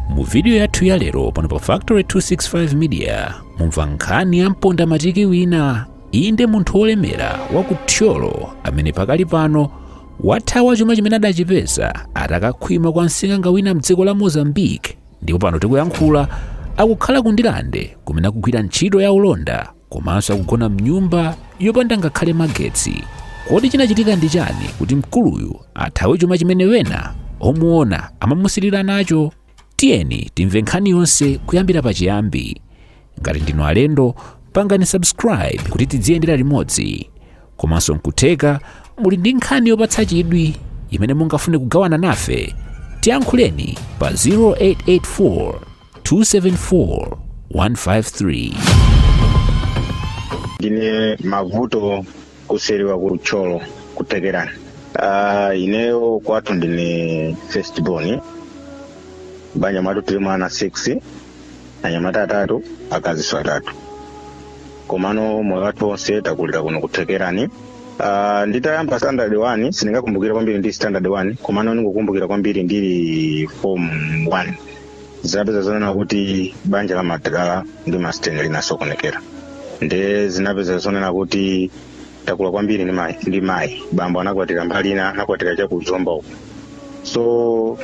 mu vidiyo yathu ya lero pano pa factory 265 media mumva nkhani ya mponda matiki wina inde munthu wolemera wa ku thyolo amene pakali pano wathawa chuma chimene adachipeza atakakhwima kwa msing'anga wina mdziko la mozambique ndipo pano tikuyankhula akukhala ku ndirande kumene akugwira ntchito ya ulonda komanso akugona mnyumba yopanda ngakhale magetsi kodi chinachitika ndi chani kuti mkuluyu athawe chuma chimene wena omuona amamusirira nacho tiyeni timve nkhani yonse kuyambira pachiyambi ngati ndinu alendo pangani subscribe kuti tidziyendera limodzi komanso nkutheka muli ndi nkhani yopatsa chidwi imene mungafune kugawana nafe tiyankhuleni pa 0884 274 153. ndine mavuto kuseriwa ku thyolo kuthekerani uh, ineyo kwathu ndine first born banja mwathu tilimo ana 6 anyamata atatu akaziso atatu komano moyo wathu onse takulira kuno kuthekerani Uh, nditayamba standard 1 sindingakumbukira kwambiri ndili standard 1 komano ndikukumbukira kwambiri ndili form 1 zinapeza zonena kuti banja la madala ndi masteni linasokonekera nde zinapeza zonena kuti takula kwambiri ndi mayi- ndi mayi bambo anakwatira mbali ina anakwatira chakuzomba uku so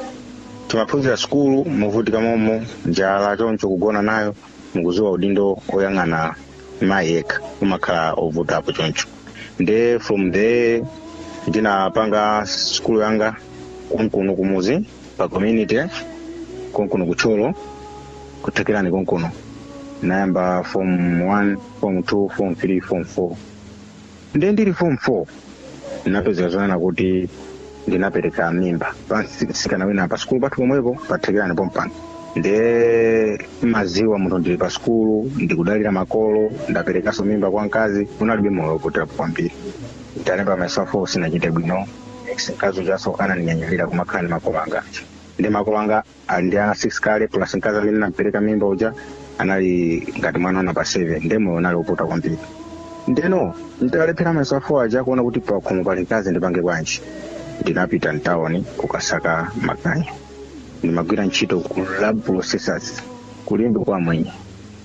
timaphunzira sukulu muvutika momo njala choncho kugona nayo mukuziwa udindo oyang'ana mayi yekha umakhala ovutapo choncho nde from there ndinapanga sukulu yanga konkuno kumuzi pa community konkuno ku thyolo kuthekerani konkuno nayamba form 1 form 2 form 3 form 4 nde ndili form 4 ndinapezeka zonena kuti ndinapereka mimba pa mtsikana wina pa sikulu pathu pomwepo pathekerani pompano nde maziwa munthu ndili pa sikulu ndikudalira makolo ndaperekanso mimba kwa mkazi unalibe moyo wovutirapo kwambiri ndalemba mayeso a 4 sinachite bwino ex mkazi ujaso ananinyanyalira kumakhala ndi makolo anga aja nde makolo anga ali ndi ana 6 kale plus mkazi amene nampereka mimba uja anali ngati mwana wa number 7 nde moyo unali wovuta kwambiri ndeno nditalephera mayeso a 4 aja kuona kuti pakhomo pali mkazi ndipange bwanji ndinapita mtawoni kukasaka maganyu ndimagwira ntchito ku rab processors kulimbe kwa mwenye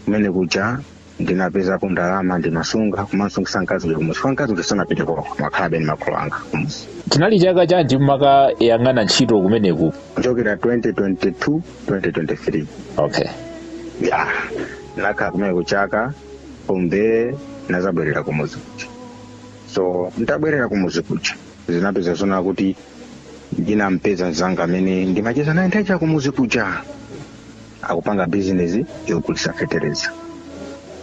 kumene kuja ndinapezapo ndalama ndimasunga komanso kumasungitsa mkazi uja kumudzi chifukwa mkazi uja sanapite kwao amakhalabe ndi makolo anga kumudzi chinali chaka chanji mumakayang'ana ntchito kumeneko kuchokera 2022 2023 okay ya nakhala kumeneko chaka chathombe nazabwerera kumuzi kuja so nditabwerera kumuzi kuja zinapeza zona kuti ndinampeza mzanga amene ndimacheza naye ndatha kumuzi kuja akupanga bizinesi yogulisa fetereza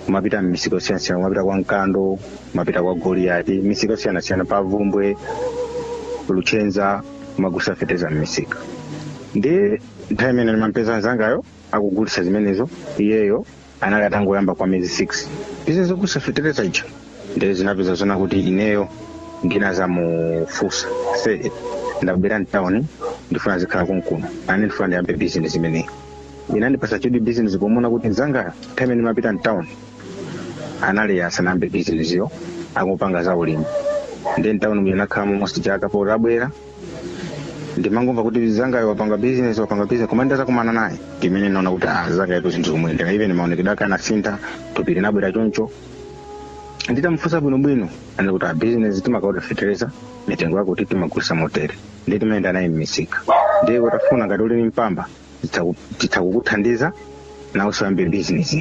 kumapita m'misika yosiyanasiyana kumapita kwa mkando kumapita kwa goliyati misika yosiyanasiyana pa vumbwe luchenza kumagulisa fetereza m'misika ndi nthawi imene ndimampeza mzangayo akugulisa zimenezo iyeyo anali atangoyamba kwa miyezi 6 bizinesi yogulisa fetereza ija ndiye zinapeza zona kuti ineyo ndinazamufusa ase ndabwera mtawuni ndifuna nzikhala konkuno nane ndifuna ndiyambe bizinesi imeneyi inandipasa chidwi bizinesi pomona kuti mzanga nthawi imene ndimapita mtawuni anali asanayambe bizinesi iyo akupanga za ulimi ndiye mtawuni muja nakhalamo almost chaka pomwe ndabwera ndimangomva kuti mzangayo wapanga business wapanga business koma ndaza kumana naye ndimene naona kuti ah mzangayutu zinthu zomwe ndinga even maonekedwe ake anasintha thupili linabwera choncho nditamufunsa bwinobwino anati kuti a business timakaoda fetereza mitengo yakutiyakuti timagulisa motere ndiye timayenda naye mmisika ndiye utafuna ngati uli ni mpamba titsaku- titsakukuthandiza nawenso uyambe business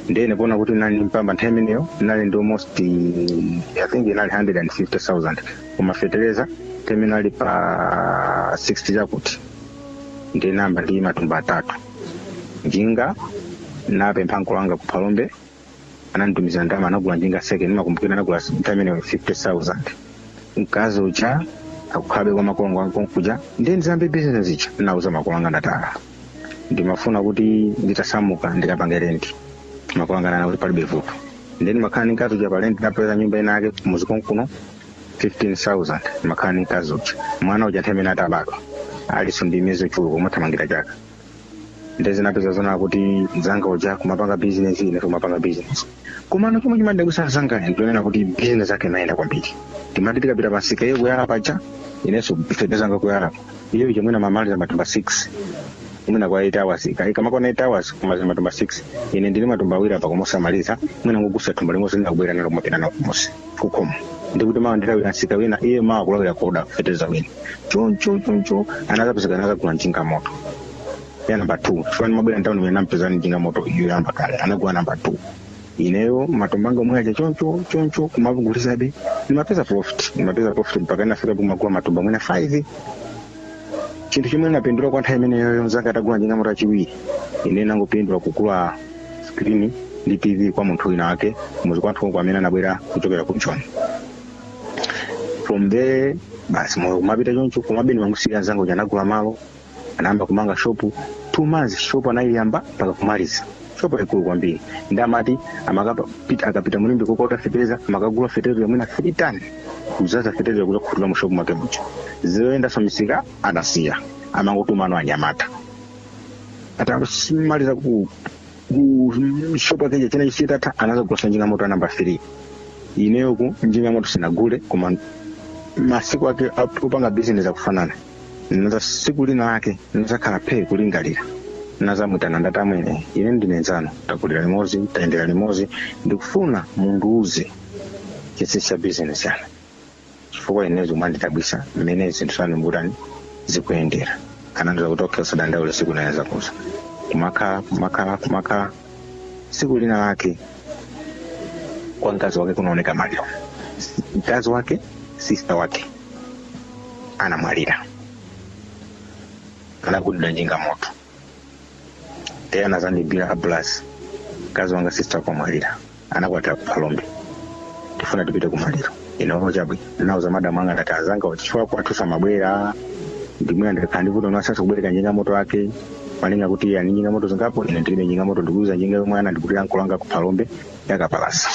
ndiye ndi poona kuti nali ni mpamba nthawi imeneyo nali ndi almost eh, i think inali 150000 koma fetereza time inali pa 60 chakuti ndinayamba ndi matumba atatu njinga napempha mkulu wanga ku phalombe ananditumizira ndalama nagula njinga seke ndimakumbukira nagula nthawi imeneyo 50000 mkazi uja akukhalabe kwa makolo anga konkuja ndiye nditayamba bizinesi ija ndinauza makolo anga ndati ah ndimafuna kuti nditasamuka ndikapange rendi makolo anga ananena kuti palibe vuto ndiye ndimakhala ndi mkazi uja pa rendi ndapeza nyumba ina yake kumuzi konkuno 15000 ndimakhala ndi mkazi uja mwana uja nthawi imene atabadwa aliso ndi miyezi yochuluka amathamangira chaka nde zinapeza zona kuti mzanga uja kumapanga business ine kumapanga business komano chomwe chimandikhuza mzanga ndikunena kuti business yake imayenda kwambiri timati tikapita pamsika iyeyo kuyala paja inenso feteleza wanga kuyala iyeyo mwina amamaliza matumba 6 mwina kwa 8 hours ikamakwana 8 hours kumaliza matumba 6 ine ndili matumba awiri apa kumosamaliza mwina ndingogulitsa thumba limodzi linalo kubwerera nalo kumapita nalo kumudzi kukhomo ndikuti mawa ndilawira msika wina iye mawa kulawira kukaoda feteleza wina choncho choncho anakapezeka anakagula njinga yamoto ya namba 2 chifukwa ndimabwera mtawuni mmene nampeza ndi njinga yamoto iyo yoyamba kale anagula namba 2 ineyo matumba anga omwe aja choncho choncho kumagulitsadi ndimapeza profit ndimapeza profit mpaka inafika kumagula matumba mwina 5 chinthu chomwe ndinapindula kwa nthawi imeneyoyo mzanga atagula njinga moto achiwiri ine nangopindula kugula skrini ndi tv kwa munthu wina wake muzi kwathu uko amene anabwera kuchokera ku joni from there basi moyo kumapita choncho kumabeni mamusiya anzanga uja anagula malo anayamba kumanga shopu two months shopu anayiyamba mpaka kumaliza shopu yaikulu kwambiri ndi amati amakapita akapita mu Limbe kukaoda fetereza amakagula fetereza mwina 3 tani kudzadza fetereza kuzakhutula mu shopu mwake muja zoyendanso misika anasiya amangotuma anyamata anyamata atamaliza ku ku shopu akeja china chisitatha anazagulasa njinga moto anamba 3 ineyoku njinga moto sinagule koma masiku ake opanga bizinesi akufanana naza siku lina lake nazakhala phe kulingalira nazamwitana ndati amwene ine ndine nzanu takulira limodzi tayendera limodzi ndikufuna mundiuze chinsinsi cha bizinesi yanu chifukwa ine zomwe zandidabwisa mmene zinthu zanu mbutani zikuyendera anandiuza kuti okhe usadandaule siku lina nzakuuza kumakhala kumakhala kumakhala siku lina lake kwa mkazi wake kunaoneka maliro mkazi wake sista wake anamwalira anagundidwa njinga moto te anazandiimbira abraz mkazi wanga sista wake wamwalira anakwatira kuphalombe tifuna tipite kumaliro ine oo chabwino ndinauza madamu anga ndati nzanga zachitika kwathu samabwera ndimwina ndikakhala ndivuto niwasasa kubwereka njinga moto ake malinga kuti ali njinga moto zingapo ine ndilibe njinga moto ndikuuza njinga yomwe ana ndikutira mkolo wanga kuphalombe yakapalasa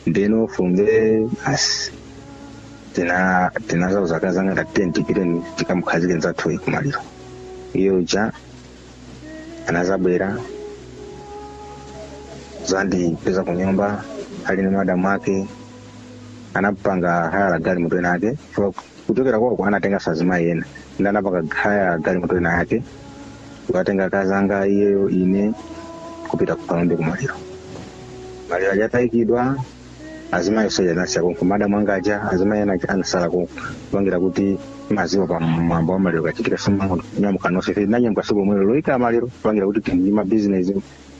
ndeno funde basi ndinazauza akazanga ndati tiye tipite tikamukhazike nzathu uyu kumaliro iye uja anazabwera kuzandipeza ku nyumba ali ndi madamu ake anapanga haya la galimoto ina yake kuchokera kwauko anatenganso azimayi ena ndi anapanga haya galimoto ina yake kukatenga akazi anga iyeyo ine kupita kukaona kumaliro maliro aja atayikidwa azimayi aja anasala konko madamu anga aja azimayi ena anasala konko kupangira kuti maziwa pa mwambo wa maliro kachitika sumanyamuka nonse ife nanyamuka siku lomwelo loyika maliro kupangira kuti tili ndi mabizinesi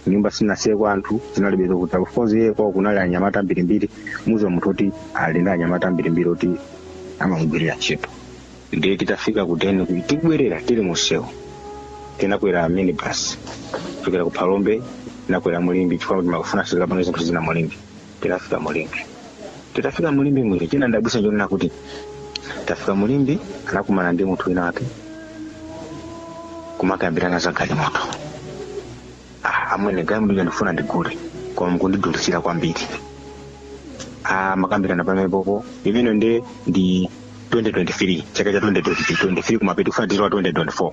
nyumba sinasiyeko anthu zinalibe zokuta of course iye kwao kunali anyamata ambirimbiri muziwa munthu oti ali ndi anyamata ambirimbiri oti amamugwirira ntchito ndiye titafika kuteni tikubwerera tili musewu tinakwera minibus kuchokera ku phalombe tinakwera mu Limbe chifukwa kuti amafuna azikapanga zinthu zina mu Limbe tinafika mulimbi titafika mulimbi chimene chinandidabwisa chonena kuti tafika mulimbi anakumana ndi munthu wina wake kumakambirana za galimoto ah, amwene galimoto ija ndifuna ndigule koma mukundidulitsira kwambiri ah, kumakambirana pompopo imeneyo ndi ndi 2023 chaka cha 2023 kumapeto tikufuna tilowe 2024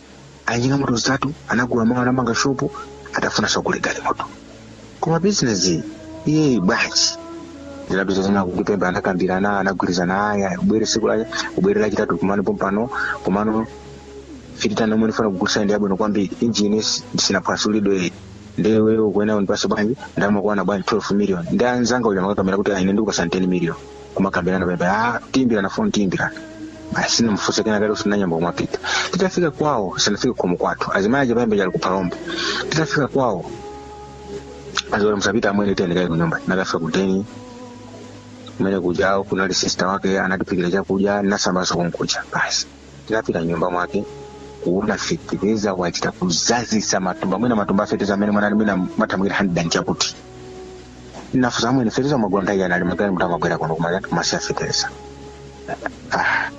ali ndi moto zitatu anagula malo anamanga shopu akufunanso agule galimoto koma bizinesi imeneyi bwanji zikudabwisa zina kukipemba anakambirana anagwirizana aya ubwere siku la ubwere lachitatu kumano pompano komano fititano omwe ndifuna kugulisa ndi yabwino kwambiri injini sinaphwasulidwe ndiye ukunena undipase bwanji ndalama bwanji 12 million ndi anzanga uja kumakakamira kuti ah ine ndikupasa 10 million kumakambirana pamenepo tiimbirana foni tiimbirana basi sinamufunse kena kale tinayamba kumapita titafika kwawo tisanafike khomo kwathu azimayi aja payamba chali kuphalombo titafika kwawo azora musapite amwene tiyeni kaye kunyumba tinakafika kudeni kumene kuja kunali sista wake anatiphikira chakudya nasambaso kunkuja basi tinafika m'nyumba mwake kuona fetereza wachita kuzaza matumba mwina matumba afetereza amene munali mwina amapitirira handiredi chakuti ndinafunsa amwene fetereza mumagula nthawi yanji magalimoto munthu amabwera kuno kumalawi kumasiya fetereza Ah,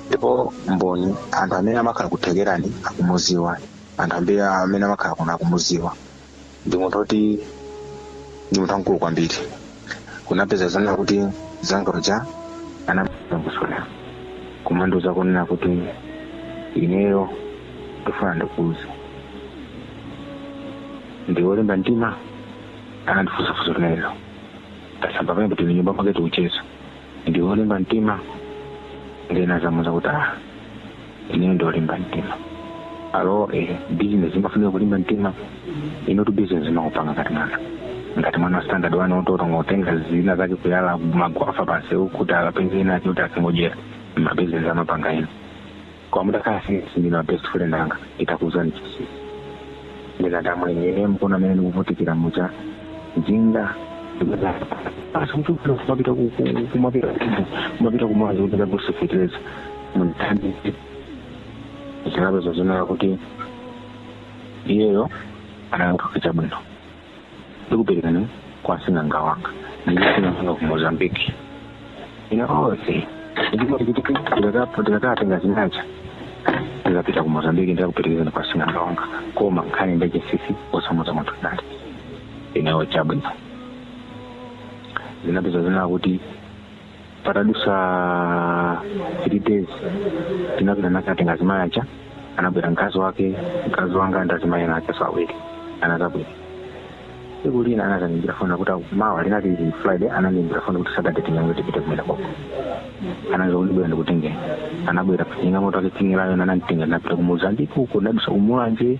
ndipo mboni anthu amene amakhala kuthekerani akumuziwa anthu ambiri amene amakhala kuno akumuziwa ndi munthu oti ndi munthu wamkulu kwambiri kunapezeka zonena kuti nzanga uja anazandifunsa kumandiuza kunena kuti ineyo ndifuna ndikuuze ndiwe wolimba mtima anandifunsa funso limenelo tasamba pamene tili m'nyumba mwake tikucheza ndiwe wolimba mtima ndinazamuza kuti ah ineyo ndiolimba mtima alo eh, business imafunika kulimba mtima inuyotu business imakupanga ngati mwana ngati mwana wa standard wani ototo ungotenga zina zake kuyala magwafa pansi kuti akapeze ina ake kuti asingodyera mabusiness amapanga ino kwa ndiye kaya sinsi ndinu a best friend anga nditakuuzani chinsinsi ndikuti amwene mukuona mmene ndikuvutikira kutchova njinga asi mchukira kumapita kumapita kumapita kumuzi kuti ndikagule fetereza mundithandize zinapezeka zonena kuti iyeyo anayankha chabwino ndikuperekezani kwa sing'anga wanga ndiye sing'anga ali ku mozambiki ine ndikati ndikatenge zinazake ndikapita ku mozambiki ndikakuperekezani kwa sing'anga wanga koma nkhani ndi yachinsinsi osamuuza munthu ndili ineyo chabwino zinapezeka zonena kuti patadusa three days tinapita nakatenga azimayi aja anabwera mkazi wake mkazi wanga ndazimayi ena aja awiri anazabwera tsiku lina anazandiyimbira foni kuti mawa linali friday anandiyimbira foni kuti saturday tinyamuke tipite kumene koko anandiuza kuti ndibwera ndikutengeni anabwera ndi njinga moto yake tsingilayo nananditenga napita ku mozambique uko nadusa kumulanje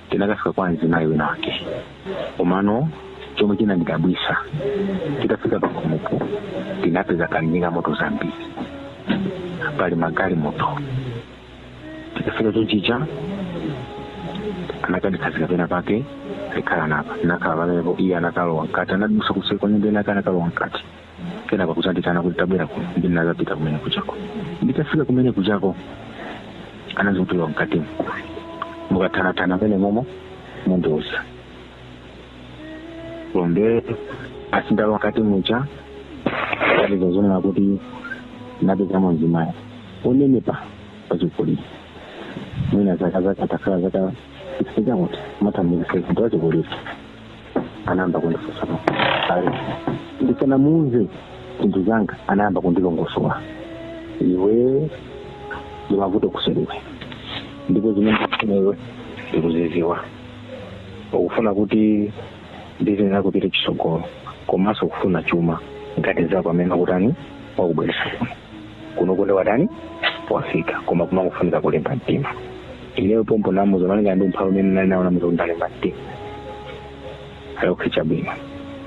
tinakafika kwa mzimayi wina wake komano chomwe chinandidabwisa titafika pakhomopo tinapeza pali njinga moto zambiri pali magalimoto tikafika chonchija anakandikhazika pena pake ali khalani apa nakhala pamenepo iye anakalowa mkati anadusa kuseri kwa nyumba inake anakalowa mkati kenako kuzandiitana kuti tabwera kuno ndinazapita kumene kujako nditafika kumene kujako anandiuza kuti lowa mkatimo mukathanatana mmenemomo ndinazalowa basi ndalowa mkati muja kapeza zonena kuti napezamo mzimayi onenepa wachikulire mwina zaka zake atakhala zaka sikakuti mathambuka sekundu wachikulire anayamba kundifunsa mafunso ali ndisanamuuze zinthu zanga anayamba kundilongosola iwe ndimavuto kuseliwe ndipo zimene ukufuna iwe ndikuziziwa ukufuna kuti business yako ipite chisogolo komanso ukufuna chuma ngati nzako amene wakutani wakubweresa kuno kuno nde watani wafika koma kumangofunika kulimba mtima ineyo pompo namuza malingana ndi umphawi umene nali nawo namuza kuti ndalimba mtima ali okay chabwino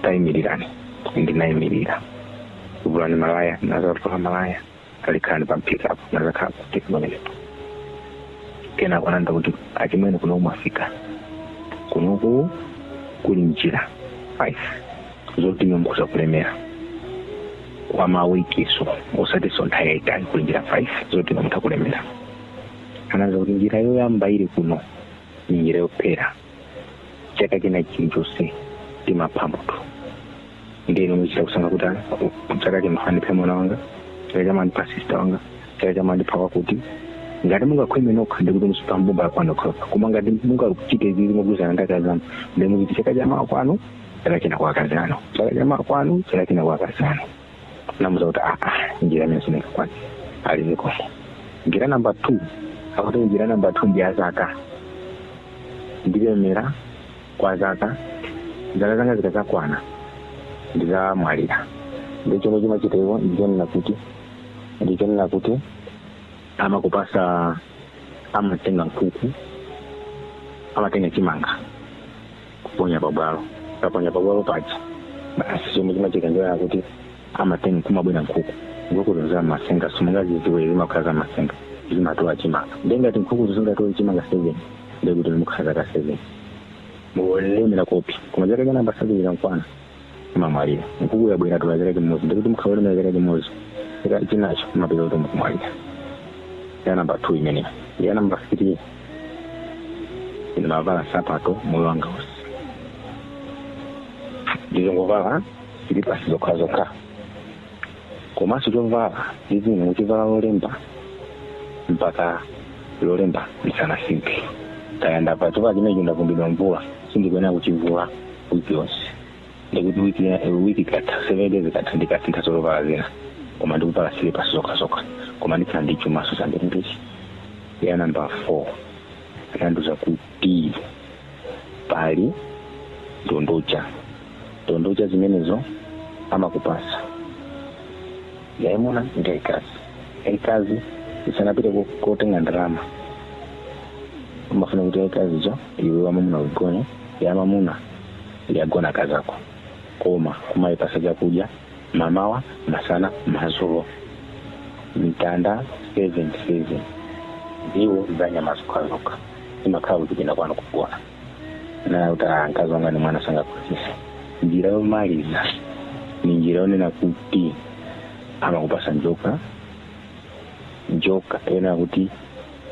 tayimirirani ndinayimirira vulani malaya nazavula malaya ali khalani pamphikapo nazakhala pamphika pamenepo kenako anandiuza kuti achimwene kuno mwafika kunoku kuli njira five zoti inu mutha kulemera kwa mawikiso osatinso nthawi yaitali kuli njira five zoti inu mutha kulemera anandiuza kuti njira yoyamba ili kuno ni njira yophera chaka china chilichonse timapha munthu nde inu mumachita kusankha kuti ah, chaka chino ndipha mwana wanga chaka chamawa ndipha sista wanga chaka chamawa ndipha wakuti ngati mungakhwime nokha ndekuti muzipha mbumba yakwanu yokha koma ngati mungachite izi mogwirizana ndi akazi anu ndekuti chaka chamawa kwanu chaka china kwa akazi anu chaka chamawa kwanu chaka china kwa akazi anu namuza kuti aa njira imeneyo sindingakwane aliziko njira namba two akuti njira namba two ndi yazaka ndilemera kwa zaka zaka zanga zikazakwana ndizamwalira nde chomwe chimachitika ndichonena kuti ndichonena kuti amakupasa amatenga nkhuku amatenga chimanga kuponya pabwalo kuponya pabwalo paja basi chomwe chimachitika ndi choti amatenga kumabwera nkhuku nkhukuzo za masenga simungazidziwe zimakhala za masenga zimatola chimanga nde ngati nkhukuzo zingatola chimanga seven ndekuti mukhala zaka seven muli olemera koopsa koma chaka cha namba seven chikamakwana mumamwalira nkhuku yabwera yatola chaka chimodzi ndiye kuti mukhala olemera chaka chimodzi chaka chinacho mumapeza kuti mukumwalira ya namba two imeneyo ya namba three ine ndisamavale nsapato moyo wanga wonse ndizingovala silipasi zokha zokha komanso chovala ndiziyenera kuchivala lolemba mpaka lolemba ndisanasinthe kaya ndachapa chovala chimenecho ndavumbidwa mvula sindikuyenera kuchivula wiki yonse ndiye kuti wiki ya- eh, wiki ikatha seven days ikatha ndikasintha zovala zina koma ndikuvala silipasi zokhazokha koma ndikhala ndi chumaso chambirimbiri ya namba four anandiuza kuti pali ndondocha ndondocha zimenezo amakupasa yaimuna ndi yaikazi yaikazi isanapite ko- kotenga ndalama imafuna kuti yaikaziyo iwe wamamuna uigona yamamuna igona akazako koma kumayipasa chakudya mamawa masana mazulo mitanda 77 ndiwo za nyama zokhazokha imakhala kuchipinda kwanu kugona naye kuti "Ah, mkazi wanga ni mwana sangaphunzise njira yomaliza ni njira yonena kuti amakupasa njoka njoka yonena kuti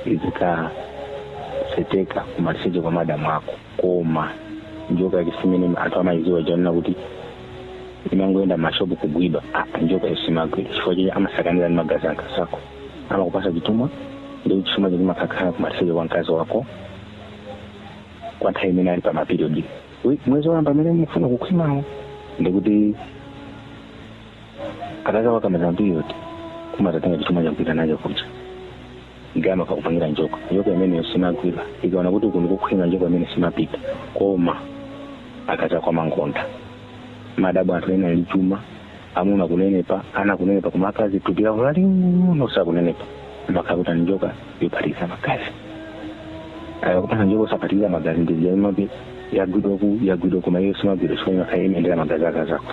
izikanyeteka kumaliseche kwa madamu ako koma njoka yake si imene anthu amayiziwa yonena kuti imangoyenda mashopu kugwidwa apa njoka iyi simagwidwa chifukwa chake amasakaniza ndi magazi a mkazi wako amakupasa chithumwa nde chithumwa chake chimakakhala kumaliseche kwa mkazi wako kwa nthawi imene ali pa mapiriodi mwezi woyamba amene mufuna kukhwimawo ndiye kuti akazako akamaliza piriodi umatenga chithumwa cha ukupita nacho kuja ndiye amakupangira njoka njoka imeneyo simagwidwa ikaona kuti uku ndikokhwima njoka imene simapita koma akazako amangoonda mumadabwa anthu ena ali chuma amuna kunenepa ana kunenepa koma akazi thupi lawo laling'ono sakunenepa mwakakuti njoka yophatikiza magazi akakupatsa njoka osaphatikiza magazi ndi zija imati yagwidwa ku yagwidwa koma iyo simagwidwa chifukwa imakhala imaendera magazi a akazako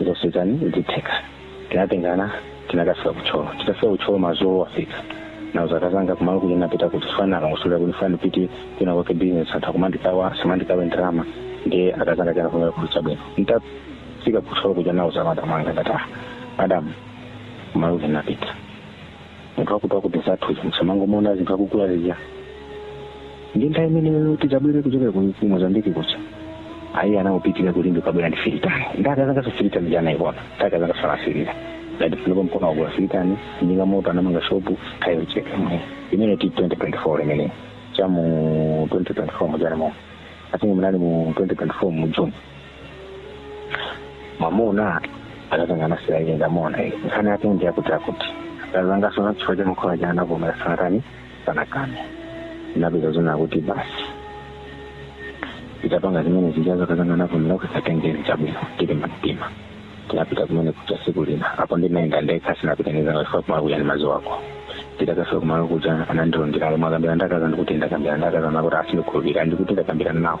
izo nditani zitheka tinatengana tinakafika ku Thyolo titafika ku Thyolo mazulo wafika nauza akazanga kumalo komwe ndinapita kuti ndifuna ndikayendere kuti ndifuna ndipite kwina kwake business anthu akumandikana samandikongoza ndalama ndi akazanga chana kuvomera kuti chabwino nditafika ku Thyolo kuja nauza madamu anga ndati ah madam kumalo komwe ndinapita munthu wakuti akuti anzathu izi musamangomaona zinthu akukula zija ndi nthawi imeneyo tidzabwere kuchokera ku ku mozambiki kuja ayi anaupitirira kulimbika abwera ndi filitani nde akazangaso filitani ja anayiona akazangaso anasirira ngati panopa nkuona wagula filitani njinga moto anamanga shopu chaka chake chimene ti 2024 imeneyo cha mu 2024 mujani momu ndingoti munali mu 2024 mu june mwamuna akazanga anasilira iye atamuona iye nkhani yake ndi yakuti akuti akazangaso na chifukwa cha mkhola uja anavomera sanatani sanakane inapezeka zoona kuti basi itapanga zimene zijazo akazanga anavomera kuti satengeni chabwino tilimbe mtima tinapita kumene kuja siku lina apo ndinaenda ndekha sindinapite ndi akazanga chifukwa kumakhala ndi mkazi wako titakafika kumalo kuja anandilondera ali mwakambirana ndi akazi ndikuti ndakambirana ndi akazi ndikuti asandikhulupirira ndikuti ndakambirana nawo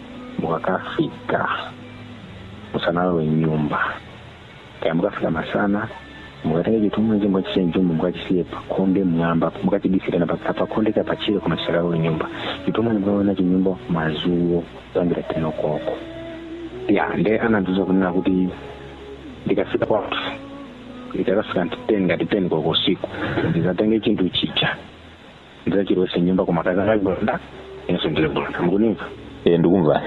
mukakafika musanalowe mnyumba kaya mukafika masana mukatenge chitumwa chomwechi chisalowe nyumba mukachisiye pakhonde mmwamba mukachibise pakhonde kapena patchire koma chisakalowe nyumba chitumwa mukalowa nacho nyumba madzulo kuyambira teni koloko ya nde anandiuza kunena kuti ndikafika kwathu ndikakafika nthawi ngati teni koloko usiku ndizatenge chinthu chija ndidzachilowese nyumba koma akazanga ali mbulanda inenso ndili mbulanda mukundimva e ndikumva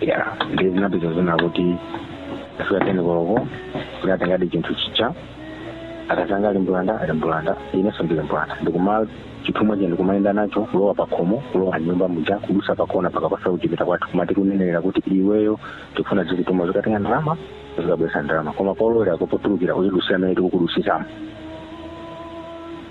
ya ndiye zinapeza zoona kuti itafika teni koloko kuti tatengadi chinthu chija akazanga ali mbulanda ali mbulanda inenso ndili mbulanda ndikuima chithumwa chija ndikumayenda nacho kulowa pakhomo kulowa nyumba muja kudutsa pakona pakaphasa kuchipinda kwathu kumati kunenera kuti iweyo tikufuna tizikutuma uzikatenga ndalama uzikabweretsa ndalama koma polowera ndi potulukira uzidutsira mmene tikukudusisamo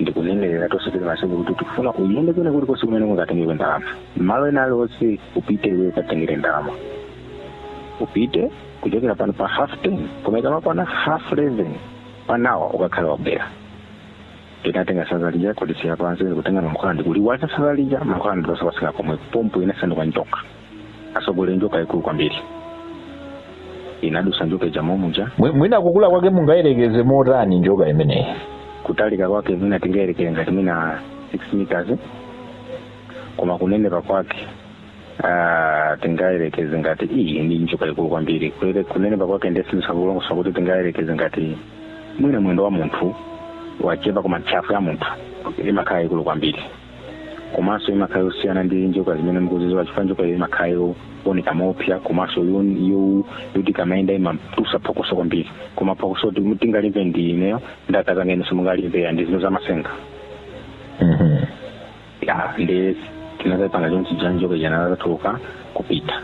ndikunenerera kuti usatereze mwana iwe kuti tikufuna uyende kwina kuli konse kumene ungakatengere ndalama malo ena aliwonse upite iwe ukatengere ndalama upite kuchokera pano pa half ten koma ikamakwana half eleven panopa ukakhala wabwera titatenga sanza lija kulisiya pansi kutenga mankhwala ndikuliwaza sanza lija mankhwala ndiye linapezeka pomwepo pompo linasanduka njoka asogolere njoka yaikulu kwambiri inadusa njoka ija momuja Mwi- mwina kukula kwake mungayerekeze motani njoka imeneyi kutalika kwake mwina tingayerekeze ngati mwina 6 meters koma kunenepa kwake ah, tingayerekeze ngati iyi ndi njoka ikulu kwambiri Kulere- kunenepa kwake ndiye sindingalongosole kuti tingayerekeze ngati mwina mwendo wa munthu wachepa koma ntchafu ya munthu imakhala yaikulu kwambiri komanso imakhala yosiyana ndi njoka zimene mukuziziwa chifukwa njoka iyo imakhala yooneka moopsa komanso yo- yo- yoti kamayenda imatusa phokoso kwambiri koma phokoso kuti tingalimve ndi ineyo ndi akazanga inu simungalimve ya ndi zinthu zamasenga Mhm. ya ndiye tinazapanga chonchija njoka ija inazatuluka kupita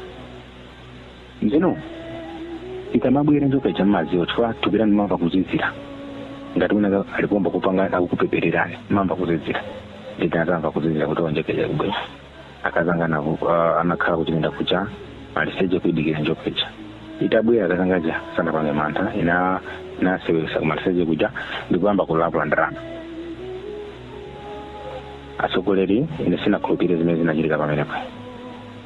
Ndeno ikamabwera njoka ija mmadziwa chifukwa thupi lanu limamva kuzizira ngati wina ali poyamba kupanga akukupepererani mayamba kuzizira nde atazamva kuzizira kuti njoka ija ikubwera akazanga navo uh, anakhala kuti nenda kuvula maliseche kuidikira njoka ija itabwera akazanga aja sanapange mantha inanaseweza kumaliseche kuja ndikuyamba kulavula ndalama atsogoleri ine sinakhulupirire zimene zinachitika pamenepo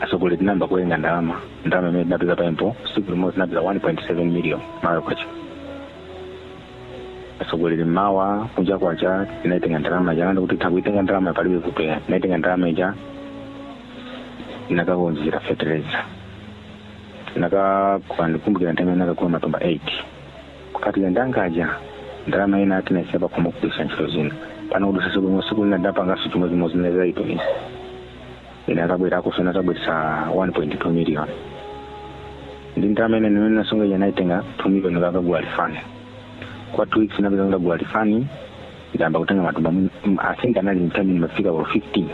atsogoleri tinayamba kuitenga ndalama ndalama imene tinapeza pompo siku limodzi tinapeza 1.7 million Malawi kwacha atsogoleri mmawa kunja kwacha tinaitenga ndalama ija anati kuti takuitenga ndalama palibe kusiya tinaitenga ndalama ija tinakaodera fetereza tinakagula ndikumbukira nthawi imene tinakagula matumba 8 kupatula ndalama ija ndalama ina tinayisiya pakhomo kugwiritsa ntchito zina pano kudutsa tsiku limodzi tsiku lina ndapanganso chimodzimodzi ndinayesa kutumiza ina atabwera akusona atabweretsa 1.2 million ndi ndalama ina imene nasunga ija nayitenga 2 million kakagula lifani kwa two weeks napeza ndagula lifani ndayamba kutenga matumba mu- m- i think anali mtani mafika or 15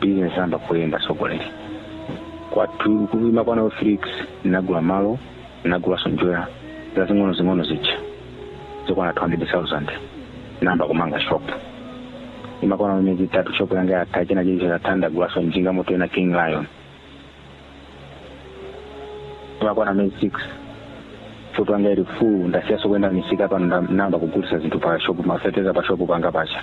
business yamba kuyenda sogoleri kwa two kuima kwana 3 weeks ndinagula malo ndinagulanso njerwa zazing'onozing'ono zija zokwana 200,000 namba kumanga shopu imakwana miyezi itatu shopu yanga yatha china chilicho chatha ndagulanso njinga moto ina king lion imakwana miyezi 6 shopu yanga ili full ndasiyanso kuyenda misika pano namba kugulisa zinthu pa shopu mafertilizer pa shopu panga pacha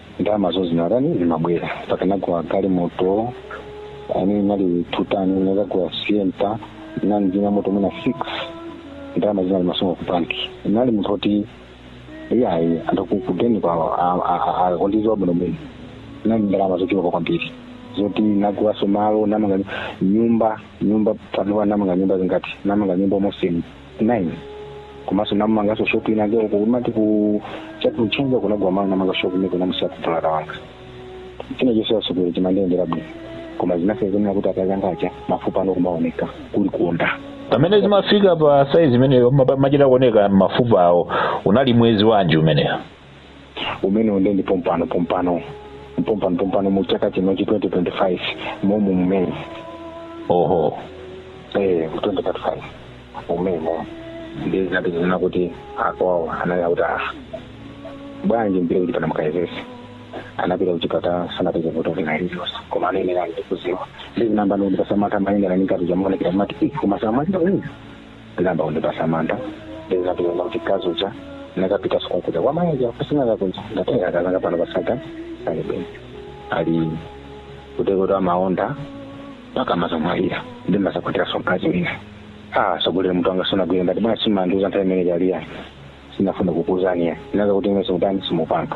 ndalamazo zinatani zimabwera mpaka nagula galimoto imene inali yotani nagula sienta nali ndi mamoto mwina six ndalama zina timasunga ku banki nali munthu oti iyayi anthu ku- ku bank kwawo amandiziwa bwino bwino nali ndi ndalama zochuluka kwambiri zoti nagulaso malo namanga nyumba nyumba panopa namanga nyumba zingati namanga nyumba mosini 9 komanso namanganso shopu inake uko kumati ku chakuchenza kunagula malo namanga shopu imene ndinamusiya mbulada wanga china chonse asogoleri chimandiyendera bwino koma zinasonyezera kuti akazi anga aja mafupa ndi kumaoneka kuli kuonda pamene zimafika pa saizi imeneyo maba- machita kuoneka mafupa awo unali mwezi wanji umeneyo umenewo nde ndi pompano pompano pompano pompano mu chaka chinochi 2025 momu mmene oho eh 2025 momwemo ndi zati zina kuti akwawo anali akuti ah bwanji mupite kuchipatala mukayezese anapita kuchipatala sanapeze vuto lina lililonse koma anayenera ndikuziwa ndizinamba ndikuti pasamata mayenera nikati chamuonekera mati koma samachita uyu ndinayamba kundipasa mantha ndinapirana kuti mkazi uja nakapita tsiku lija kwa mayi uja kusinaka kunja ndatenga akazanga pano pasapa ali bwino ali kutekoto amaonda mpaka amazamwalira ndi mudzakwatiranso mkazi wina atsogoleri mutu wanga sunagwira ndati bwanji simandiuza nthawi imene chaliya sindinafune kukuuzani ndinadziwa kuti imwe simutani simupanga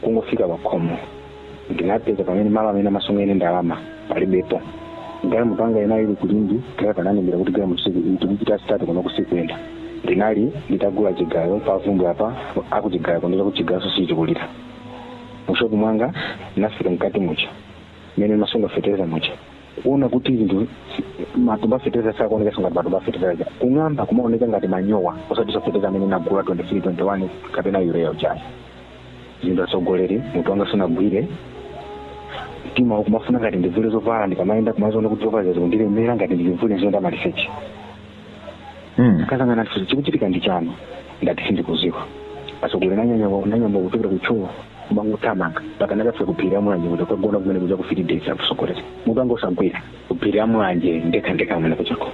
kungofika pa khomo ndinapeza pamene malo amene amasungira ndalama palibepo galimoto yanga inali ili kulindi kaya pananembera kuti galimoto tikupita sitati kuno siikuyenda ndinali nditagula chigayo pavumbi apa akuchigayo kundiuza kuti chigayo nso sichikulira mushopu mwanga ndinafika mkati muja mmene ndimasunga fetereza muja kuona kuti zinthu matumba fetereza sakuoneka kutenga matumba fetereza kung'amba kumaoneka ngati manyowa osatinso fetereza amene ndinagula 23 21 kapena yureya uja ayi zinthu atsogoleri mutu wanga sunagwire mtima kumafuna ngati ndivule zovala ndikamayenda kumaziona kuti zovala zikundilemera ngati ndivule ndiziyenda maliseche Mm. akazi anga kuti chikuchitika ndi chani ndati sindikudziwa atsogoleri ndinanyamuka ndinayamba kuchokera kuja kumangothamanga mpaka ndakafika kuphiri la mulanje kukagona kumene kuja kufiti days atsogoleri mutu wanga usakugwira kuphiri la mulanje ndekha ndekha kumene kujako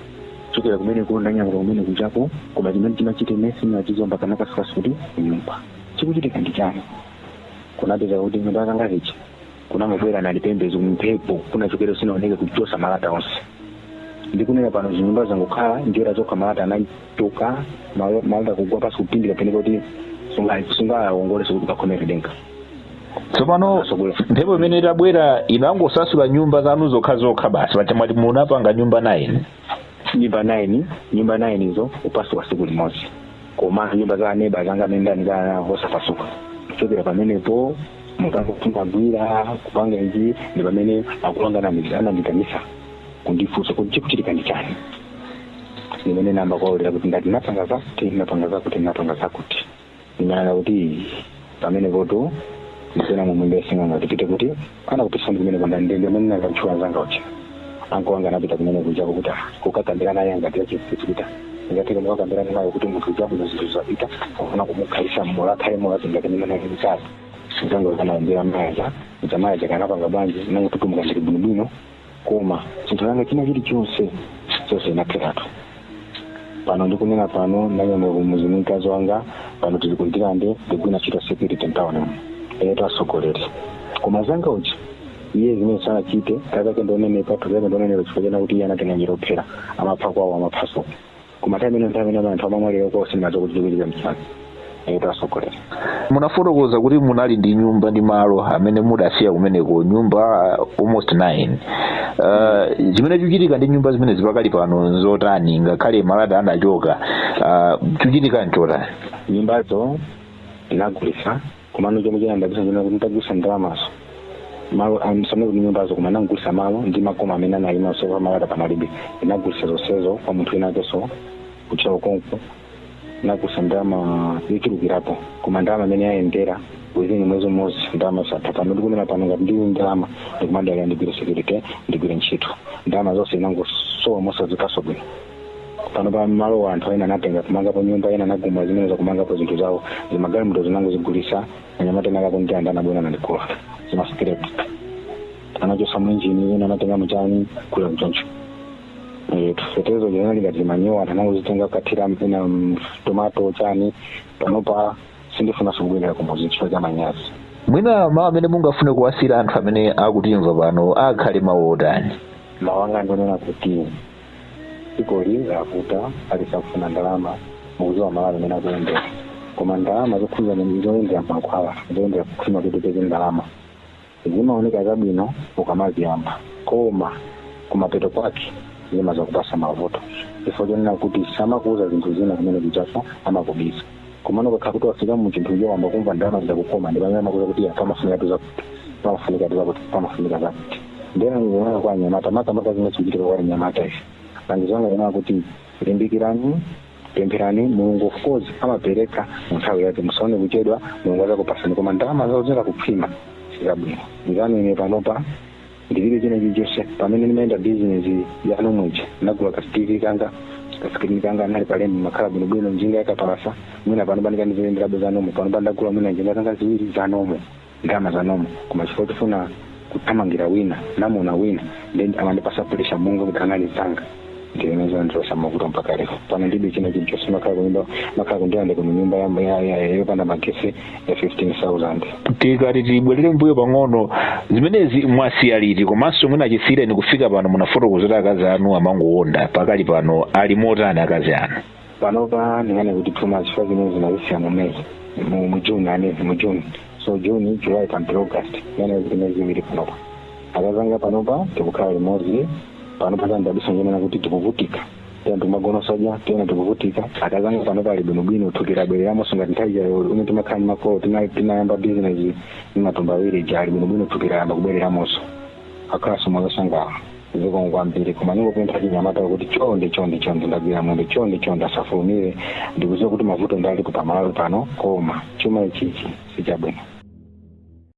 kuchokera kumene kuona nyanga kumene kujako koma chimene chimachitika nachizomba ndinakafikanso kuti nyumba chikuchitika ndi chani kunapeza kuti nyumba zanga zija kunangobwera nali pembezo mphepo kunachokera sikunaoneke kuchotsa malata onse ndikunena pano zinyumba zangokhala njerwa zokha malata anachoka malo- malata kugwa pansi kupindika moneka kuti sungawongolenso kuti ukakhomere denga tsopano mphepo imene itabwera inangosasula nyumba zanu zokha zokha basi paja mwati munapanga nyumba 9 nyumba 9 nyumba 9 izo kuphwasuka tsiku limodzi koma nyumba za neba anga amene ndayandikana nawo osaphwasuka kuchokera pamenepo mutu wanga sumagwira kupanga izi ndi pamene akulu anga ananditanisa kundifunsa kuti chikuchitika ndi chani ndimene ndinayamba kuwaululira kuti ndati napanga zakuti napanga zakuti napanga zakuti anandiuza kuti pamenepotu ndiye pena mmene sing'anga tipite kuti akatisonyeze kumene kwa ndani amene ndinakutchula anzanga uja ankolo anga anapita kumene kujako kuti ah, kukakambira naye ngati njira ingateka mukakambirana naye kuti munthu ujakuno zinthu zapita kufuna kumukhalitsa mmoyo akhale moyo tingati mimene akimikali ndiye anangokaombeza mayi aja kuti mayi aja anapanga bwanji nange kuti mpaka ndili bwinobwino koma chinthu changa china chilichonse chonse chinatheratu pano ndikunena pano ndanyamuka kumudzi ndi mkazi wanga pano tili kundirande ndikugwira ntchito ya security mtawuni muno atsogoleri koma mnzanga uja iye zimene sanachite kakasi ndikuonerapo chake ndikuonera chifukwa chonena kuti iye anatenga njira yophera amapha kwawo amaphanso koma timaiona nthawi imene anthu amamwalira cause ndimadziwa kuti zikuchitika msanga kuti asogolera munafotokoza kuti munali ndi nyumba ndi malo amene mudasiya kumeneko nyumba uh, almost 9 uh, chimene chikuchitika ndi nyumba zimenezi pakali pano nchotani ngakhale malata anachoka uh, chikuchitika nchotani nyumbazo tinagulisa komano chomwe chinandabwisa ndi nakuti nditagulisa ndalamazo malo osanena kuti nyumbazo koma ndinagulisa malo ndi makoma amene anayima okha malata panalibe ndinagulisa zonsezo kwa munthu wina akeso ku Ntcheu konko ndinagulisa ndalama yochulukirapo koma ndalama amene yayenda within mwezi umodzi ndalama zatha pano ndikunena pano ngati ndili ndi ndalama ndikumadalira ndigwire security ndigwire ntchito ndalama zonse zinangosowa mosaziwikaso bwino pano pa malo anthu ena anatenga kumangapo nyumba ena anagumula zimenezo akumangapo zinthu zawo zimagalimoto ndinangozigulisa anyamata ena aku Ndirande anabwera nandigula zimasikirapu anachosa mainjini ena anatenga chani kugula choncho Eh, feteleza zinali ngati zimanyowa anthu anangozitenga kukathira ena mu tomato chani panopa sindifunaso kubwerera kumudzi chifukwa cha manyazi mwina mawu amene mungafune kuwasiyira anthu amene akutimva pano akhale mawu otani mawu anga ndi onena kuti dzikoli lavuta aliyense akufuna ndalama mukuziwa Malawi mmene akuyendera koma ndalama zokhuza zoyendera mankhwala zoyendera kukhwima kuti upeze ndalama zimaoneka zabwino ukamaziyamba koma kumapeto kwake zimazakupasa mavuto chifukwa chonena kuti samakuuza zinthu zina kumene kotchafa amakubisa komano ukakhala kuti wafika mu chinthucho wayamba kumva ndalama zakukoma ndi pamene amakuuza kuti anthu amafunikatu zakuti pamafunikatu zakuti pamafunika zakuti nde ndingonena kwa anyamata makamaka zimene zikuchitika kwa anyamata ife langizo langa ndi lakuti limbikirani pempherani mulungu of course amapereka mu nthawi yake musaone kuchedwa mulungu azakupasani koma ndalama zauziranda kukhwima sizabwino anzanu ine panopa ndilibe china chilichonse pamene ndimayenda bizinesi yanomwe ija ndinagula ka TV kanga kasikilini kanga ndinali pa lendi ndimakhala bwinobwino njinga yakapalasa mwina panopa ndikanaziyenderabe zanomwe panopa ndagula mwina njinga zanga ziwiri zanomwe ndalama zanomwe koma chifukwa chofuna kuthamangira wina ndamuona wina then amandipasa puresha monga kuti anali zanga ndiyeno zandibweretsa mavuto mpaka lero pano ndilibe china chilichonse ndimakhala kunyumba ndimakhala ku Ndirande kuno nyumba yamba ya- ya- ya- yopanda magesi ya 15000 tikati tibwerere mbuyo pang'ono zimenezi mwasiya liti komanso mwina chisiyireni kufika pano munafotokoza zoti akazi anu amangowonda pakali pano ali motani akazi anu panopa ndinganene kuti two months chifukwa zimenezi ndinazisiya mu may mu mu june ayi mu june so june july mpaka august ndinganene kuti miyezi iwiri panopa akazanga panopa tikukhala limodzi panopa zandidabwisa nzonena kuti tikuvutika tidya timagona soja tiyeni tikuvutika akazanga panopa ali bwinobwino thupi labwereramonso ngati nthawi ija yomwe timakhala ndi makolo tima- timayamba bizinesi ndi matumba awiri ija ali bwinobwino thupi layamba kubwereramonso akukhalanso mosangalala zikomo kwambiri koma ndingopempha achinyamata kuti chonde chonde chonde ndagwira mwendo chonde chonde asafulumire ndikuziwa kuti mavuto alipo pamalawi pano koma chuma ichichi sichabwino